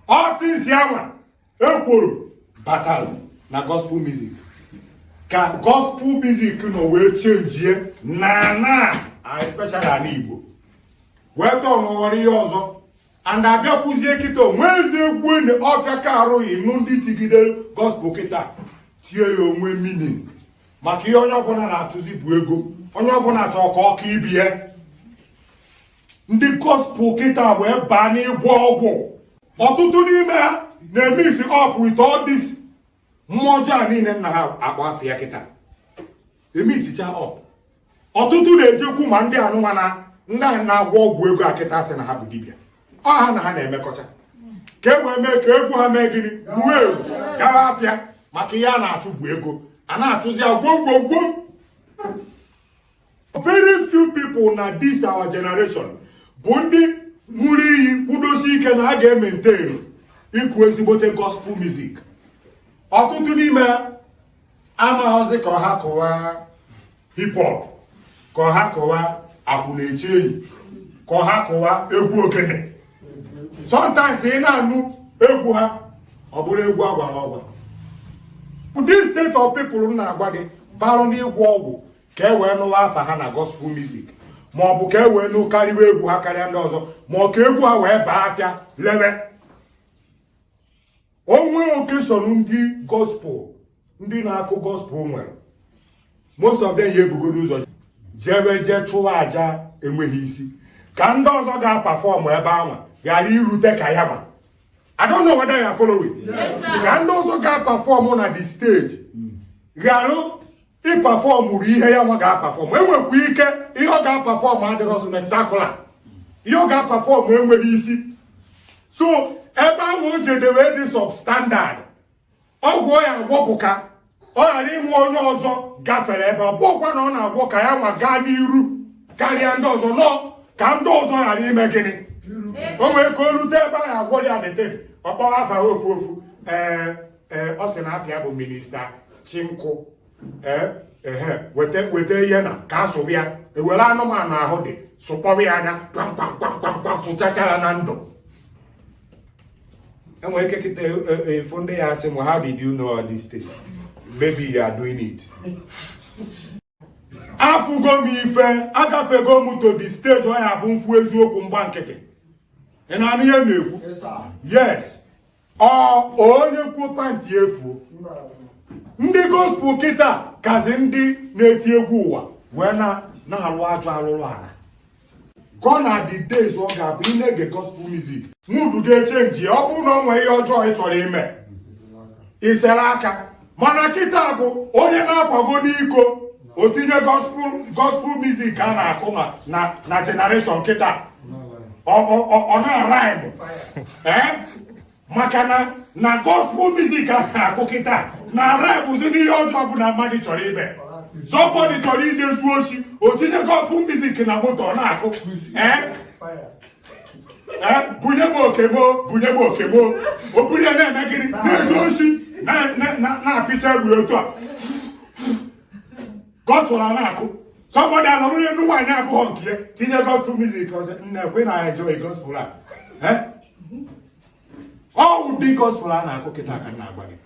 ọ since anwa ekworo batara na gospel music ka gospel music nọ wee chenjie na na especially ala igbo wee tọnụọrọ ihe ọzọ and abịakwuzie kịta o nwezi egwu enyi ọfịa ka arụghị nụ ndị tigide gospel kịta tie ya o nwee meaning maka ihe onye ọbụla na-achụzi bụ ego onye ọbụla chọrọ ka ọ ka ibie ndị gospel kịta wee baa n'ịgwọ ọgwụ ọtụtụ n'ime ha na-eme isi ọpụ ite ọdịs mmụọ ọjọọ a niile nna ha akpọ afa ya kịta emixicha up ọtụtụ na-ejekwu ma ndị anụnwa na ndị ahụ na-agwọ ọgwụ ego a kịta sị na ha bụ dibịa ọ ha na ha na-emekọcha ka e wee mee ka egwu ha mee gịnị wuo ewu gawa afịa maka ihe a na-achụ bụ ego a na-achụzi ya gwom gwom gwom very few people na this our generation bụ ndị ṅụrụ iyi kwudosi ike na ha ga-ementenu ịkụ ezigbote gospel music ọtụtụ n'ime amaghọzi ka ọ ha kụwa hip hop ka ọ ha kụwa akwụna eche enyi ka ọ ha kụwa egwu ogene sometimes ị na-anụ egwu ha ọ bụrụ egwu agwara ọgwa this set of people m na-agwa gị barụ n'ịgwọ ọgwụ ka e wee nụwa afa ha na gospel music ma ọ bụ ka e wee nụ karịwa egwu ha karịa ndị ọzọ ma ọ ka egwu ha wee baa afịa lebe o nwee occasion ndị gospel ndị na-akụ gospel nwere most of them ya ebugodo ụzọ jebe jee chụwa aja enweghị isi ka ndị ọzọ ga-apafọmụ ebe anwa ghara irute ka ya nwa I don't know whether you are following. Yes, sir. Ka ndị ọzọ ga-apafọmụ na the stage ghara ịpafọm ru ihe ya nwa ga-apafọm enwekwa ike ihe ọ ga-apafọm adịrọ spectacular ihe ọ ga-apafọm enweghị isi so ebe ahụ o jedebe dị substandard ọgwụ ọ ya-agwọ bụ ka ọ ghara inwe onye ọzọ gafere ebe ọ bụkwa na ọ na-agwọ ka ya nwa gaa n'iru karịa ndị ọzọ nọ ka ndị ọzọ ghara ime gịnị o nwere ka o rute ebe ahụ agwọ ya detere ọ kpọwa afa ofu ofu ee ee ọ sị na afa ya bụ minista chinkụ ee ehe weta weta ihe na ka a sụrụ ya ewere anụmanụ ahụ dị sụkpọọ ya anya kpamkpamkpamkpamkpam sụchacha ya na ndụ enwere ike kịta ị fụ e, e, e, ndị ya-asị m how did you know all these things maybe you are doing it afụgo m ife agafego m to the stage ọ ya-abụ m fụ eziokwu m gba nkịtị ị na-anụ ihe m na-ekwu yes ọ onye kwuo pantị efuo ndị gospel kịta kazi ndị na-eti egwu ụwa wee na-arụ ajọ arụrụ ala gone are the days ọ ga-abụ ị na-ege gospel music mood ga-echenji ọ bụrụ na ọ nwee ihe ọjọọ ị chọrọ ime i sere aka mana kịta bụ onye na-akwago n'iko o tinye gospel music a na-akụ na na generation kịta ọ na-araịmụ maka na na gospel music a na-akụ kịta na-araịmụzi n'ihe ọjọọ ọbụna mmadụ chọrọ ime somebody chọrọ ije zuo oshi o tinye gospel music na moto ọ na-akụ ee bunye m oke m o bunye m oke m o o buru ya na-eme gịnị na-eje oshi na-apịcha egbe otu a gospel a na-akụ somebody anọrọ n'enu nwaanyị abụghọ nke ya tinye gospel music ọzọ na-ekwe na-enjoy gospel a ọ ụdị gospel a na-akụ kịta ka m na-agwa gị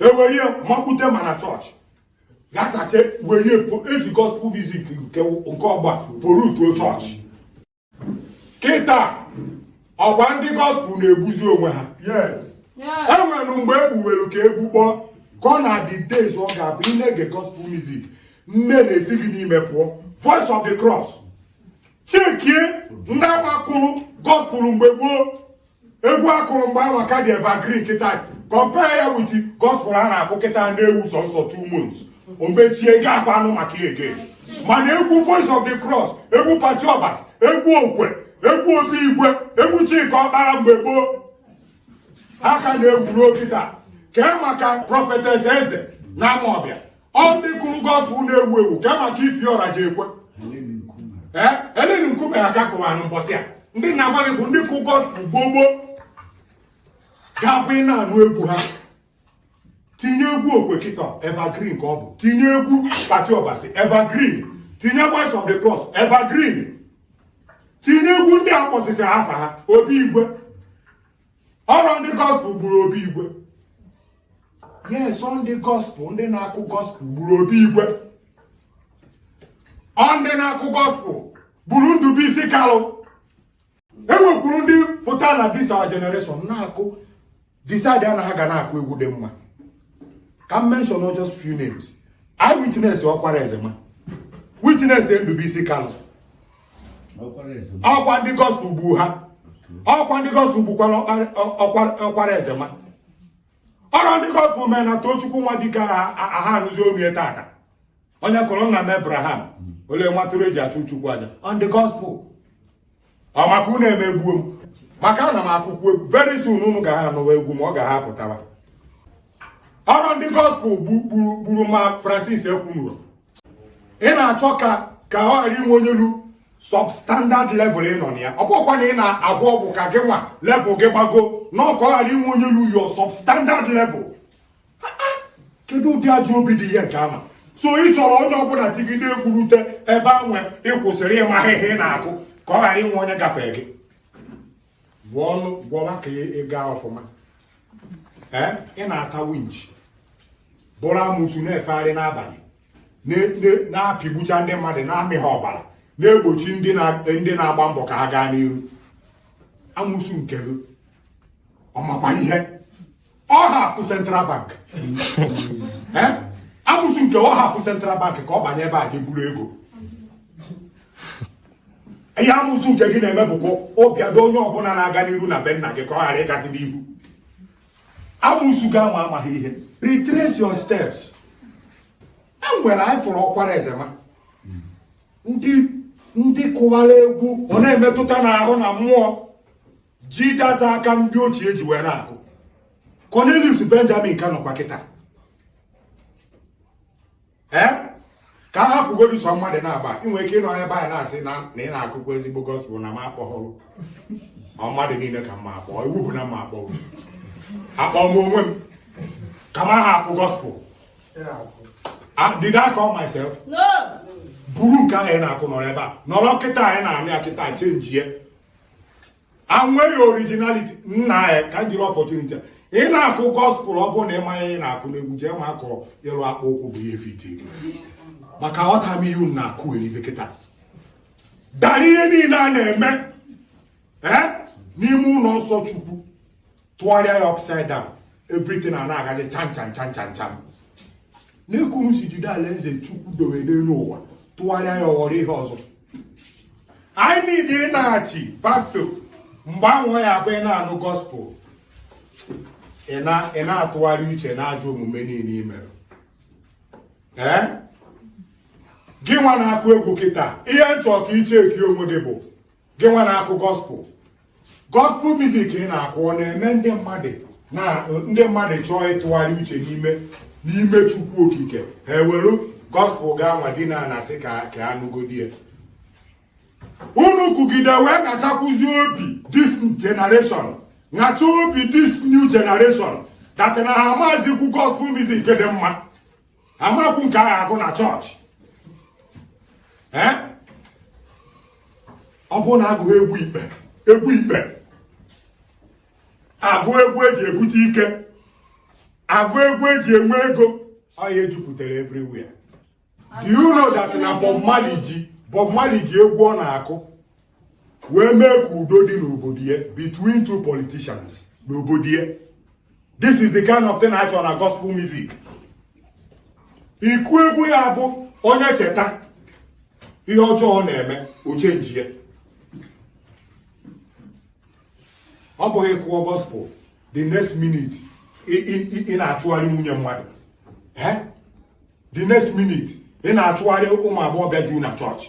ewere ya makpute mana chọọchị gasacha were eji gospel music nke ugbua polutuo chọọchị kịta ọkwa ndị gospel na-egbuzi onwe ha enwere mgbe e gbuwere ka e gbukpọọ gone are the days ọ ga-abụ ị na-ege gospel music nne na-esi gị n'ime pụọ voice of the cross chekie ndị awa kụrụ gospel mgbe gboo egwu akụrụ mgbe ahụ ka dị evergreen kịta compare ya with gospel a na-akụ kịta na-ewu sọsọ two months o mechie ga akwa anụ maka ya again mana egwu voice of the cross egwu Patty Obasi egwu okwe egwu obi igwe egwu Chika Ọkpala mgbe gboo ha ka na-ewu ruo kịta kee maka prophetess eze na amaọbịa ọ ndị kụrụ gospel na-ewu ewu ka maka Ify Ọrajiekwe Helen Nkume ya ka kụwara mbọsị a ndị na-agwa gị bụ ndị kụ gospel gboo gboo ga-abụ ị na-anụ egwu ha tinye egwu okwe kịta evergreen ka ọ bụ tinye egwu Patty Obasi evergreen tinye voice of the cross evergreen tinye egwu ndị a kpọsịsị afa ha obi igwe ọrọ ndị gospel gburu obi igwe yes ọ ndị gospel ndị na-akụ gospel gburu obi igwe ọ ndị na-akụ gospel gburu Ndubuisi Kalụ enwekwuru ndị pụta na this our generation na-akụ decide na ha ga na-akụ egwu dị mma ka m mention just few names eyewitness ọkwara ezema witness Ndubuisi Kalụ ọkwa ndị gospel gbu ha ọkwa ndị gospel gbukwara ọkwara ezema ọrọ ndị gospel mere na Tochukwu Nwadike aha anụzi omie tata onye kụrụ nna m Abraham olee nwa atụrụ eji achụ chukwu aja ọ ndị gospel ọ maka unu emegbuo m maka ana m akụkwa egwu very soon unu ga ha anụwa egwu m ọ ga ha pụtawa ọrụ ndị gospel gburu ma Francis Ekwunuro ị na-achọ ka ka ọ ghara inwe onye lu substandard level ị nọ na ya ọ bụkwa na ị na-agwọ ọgwụ ka gị nwa level gị gbago no ka ọ ghara inwe onye lu your substandard level kedu ụdị ajọ obi dị ihe nke ama so ị chọrọ onye ọbụla tigide ekwurute ebe anwa ị kwụsịrị ime ahịhịa ị na-akụ ka ọ ghara inwe onye gafee gị gwọ ọgwụ gwọwa ka ị gaa ọfụma ee ị na-ata winch bụrụ amụsu na-efegharị n'abalị na-apịgbucha ndị mmadụ na-amị ha ọbara na-egbochi ndị na-agba mbọ ka ha gaa n'iru amụsu nke gị ọ makwa ihe ọ hack central bank eh? amụsụ nke ọ hack central bank ka ọ banye ebe a ga-eburu ego ihe amụsụ nke gị na-eme bụkwa ụbịado onye ọbụla na-aga n'iru na be nna gị ka ọ ghara ịgazi n'ihu amụsụ gị ama amaghị ihe retrace your steps e nwere anyị fụrụ Okwara Ezema ndị ndị kụwara egwu ọ na-emetụta n'ahụ na mmụọ ji guitar aka ndị ochie ji wee na-akụ Cornelius Benjamin ka nọkwa kịta ee ka a hapụgodi so mmadụ na-aba inwe ike ịnọ ebe a na-asị na ị na-akụkọ ezigbo gospel na m akpọghọ ma mmadụ niile ka m ma akpọ iwu bụ na m ma akpọ akpọ m onwe m ka m aha akụ gospel ah, did I call myself? buru nke ahụ ị na-akụ nọrọ ebe a nọrọ kịta anyị na-anụ ya kịta chenjie anweghị originality nna ya ka m jiri opportunity ị na-akụ gospel ọ bụrụ na ị maghị ihe ị na-akụ n'egwu jee ma akọ ịlụ akpụ ụkwụ bụ ihe fiti gị maka aghọtaghị m ihe unu na-akụherizi kịta dara ihe niile a na-eme n'ime ụlọ nsọ chukwu tụgharịa ya upside down everything a na-agazi chan chan chan chan chan na ekwensu jide alaeze chukwu dowe n'elu ụwa tụgharịa ya ọghọrọ ihe ọzọ anyị niile ị na-achị back to mgbe ahụ ya bụ ị na-anụ gospel ị na-atụgharị uche na ajọ omume niile i mere ee gị nwa na-akụ egwu kịta ihe m chọ ka ị checkie onwe gị bụ gị nwa na-akụ gospel gospel music ị na-akụ ọ na-eme ndị mmadụ na ndị mmadụ chọọ ịtụgharị uche n'ime n'ime chukwu okike ha ewere gospel gị anwa dina na-asị ka ka anụgodi ya unu kụgide wee kachakwụzi obi this generation kacha obi this new generation that na ha amazikwu gospel music dị mma amakwu nke a ga-agụ na chọọchị ọ bụrụ na agụghị egwu ikpe egwu ikpe agụ egwu eji ebute ike agụ egwu eji enwe ego ọ ya ejupụtara everywhere do you know that na Bob Marley ji Bob Marley ji egwu ọ na-akụ wee mee ka udo dị n'obodo ya between two politicians n'obodo ya this is the kind of thing anyị chọrọ na gospel music ị kụọ egwu ya bụ onye cheta ihe ọjọọ ọ na-eme o chenjie ọ bụghị ị kụọ gospel the next minute ị na-achụgharị nwunye mmadụ the next minute ị na-achụgharị ụmụ agbọghọbịa juu na chọọchị